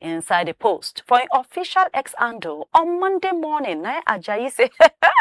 inside a post for im official X handle on Monday morning, na Ajayi say,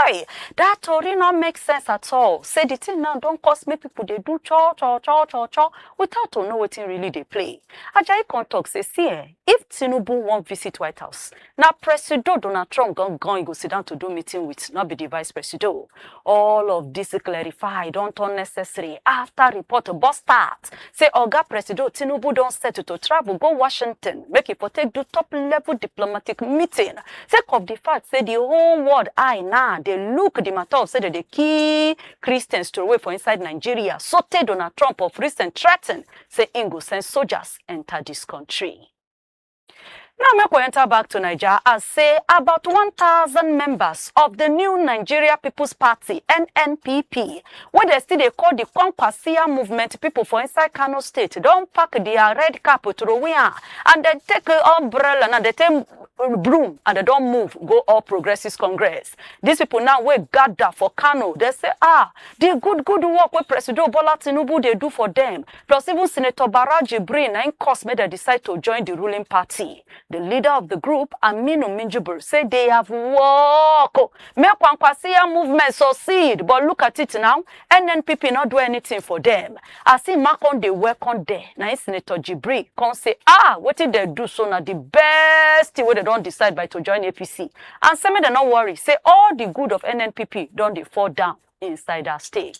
hey, that tori no make sense at all. Say the thing now don cause make people dey do cho cho cho cho cho without to know wetin really dey play. Ajayi come talk say, see eh, if Tinubu wan visit White House, na Presido Donald Trump gangan he go sit down to do meeting with, no be the Vice Presido. All of dis clarify don turn necessary after report burst out say Oga Presido Tinubu don set to travel go Washington make e for take do top level diplomatic meeting sake of the fact say the whole world eye now dey look the matter of say dem dey kill Christians throway for inside Nigeria sotey Donald Trump of recent threaten say im go send soldiers enter dis country. Now make we enter back to Naija as say about 1,000 members of the new Nigeria People's Party (NNPP) wey dey still dey call the Kwankwasia movement people for inside Kano State don pack their red cap throway am and dem take umbrella and dem take broom and dem don move go All Progressives Congress. These people now wey gather for Kano dey say ah the good good work wey Presido Bola Tinubu dey do for them Plus, even Senator Barau Jibrin na im cause make dem decide to join the ruling party. The leader of the group, Aminu Minjibir, say they have work. oh. Make Kwankwasiya movement succeed, but look at it now, NNPP not do anything for them. As he mark on the welcome there, na im Senator Jibrin come say, ah, wetin dem do so na the best thing wey dem don decide by to join APC. And say make dem no worry, say all the good of NNPP don dey fall down inside that state.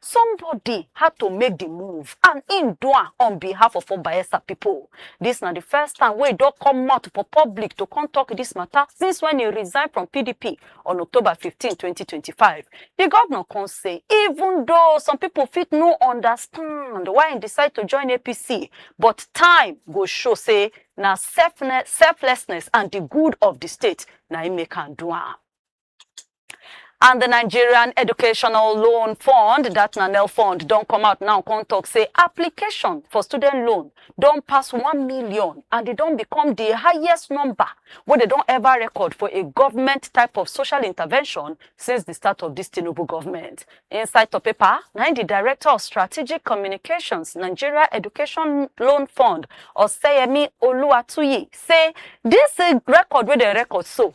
Somebody had to make the move and im do am on behalf of all Bayelsa people. Dis na the first time wey e don come out for public to come talk dis matter since when e resign from PDP on October 15, 2025. The governor come say even though some people fit no understand why im decide to join APC, but time go show say na selfne- selflessness and the good of the state na im make am do am. and the Nigerian Educational Loan Fund, that na NEL Fund, don come out now come talk say application for student loan don pass one million and e don become the highest number wey dem don ever record for a government type of social intervention since the start of this Tinubu government. Inside the paper, na im the Director of Strategic Communications, Nigeria Education Loan Fund, Oseyemi Oluwatuyi, say this eh, record wey dem record so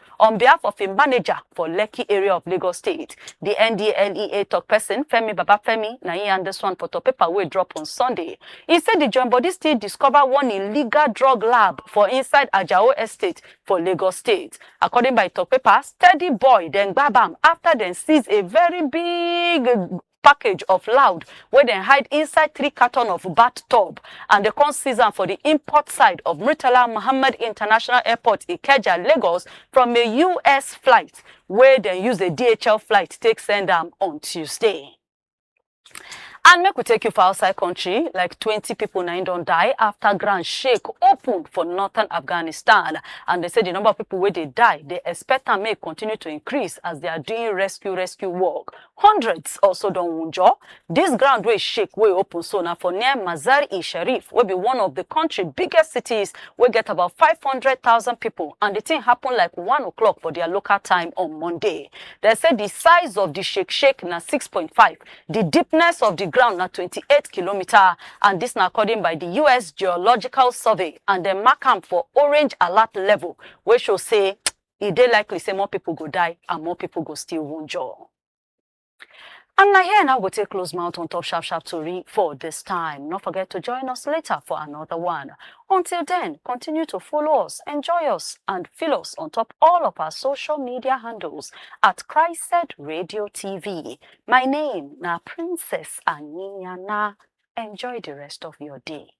on behalf of im manager for Lekki area of Lagos State. Di NDLEA tok pesin Femi Babafemi na im yarn dis one for top paper wey drop on Sunday. E say di join body still discover one illegal drug lab for inside Ajao Estate for Lagos State. According by tok paper, Steady Boy dem gbab am afta dem seize a very big package of loud wey dem hide inside three carton of bat tub and dem come seize am for di import side of murtala muhammed international airport ikeja lagos from a us flight wey dem use a dhl flight take send am on tuesday. And make we take you for outside country, like 20 people now don't die after ground shake opened for northern Afghanistan. And they say the number of people where they die, they expect and may continue to increase as they are doing rescue rescue work Hundreds also don wunjure. Dis ground wey shake wey open so na for near Mazar-e-Sharif wey be one of di kontri biggest cities wey get about five hundred thousand pipo and di tin happun like one o'clock for dia local time on Monday. Dem say di size of di shake shake na six point five, di deepness of di ground na twenty eight kilometres and dis na according by di us Geological Survey and dem mark am for orange alert level wey show say e dey likely say more pipo go die and more pipo go still wunjure. And na here na we go take close mouth on top sharp sharp tori for dis time. No forget to join us later for another one. Until then, continue to follow us, enjoy us, and feel us on top all of our social media handles at Christed Radio TV. My name na Princess Anyana. Enjoy the rest of your day.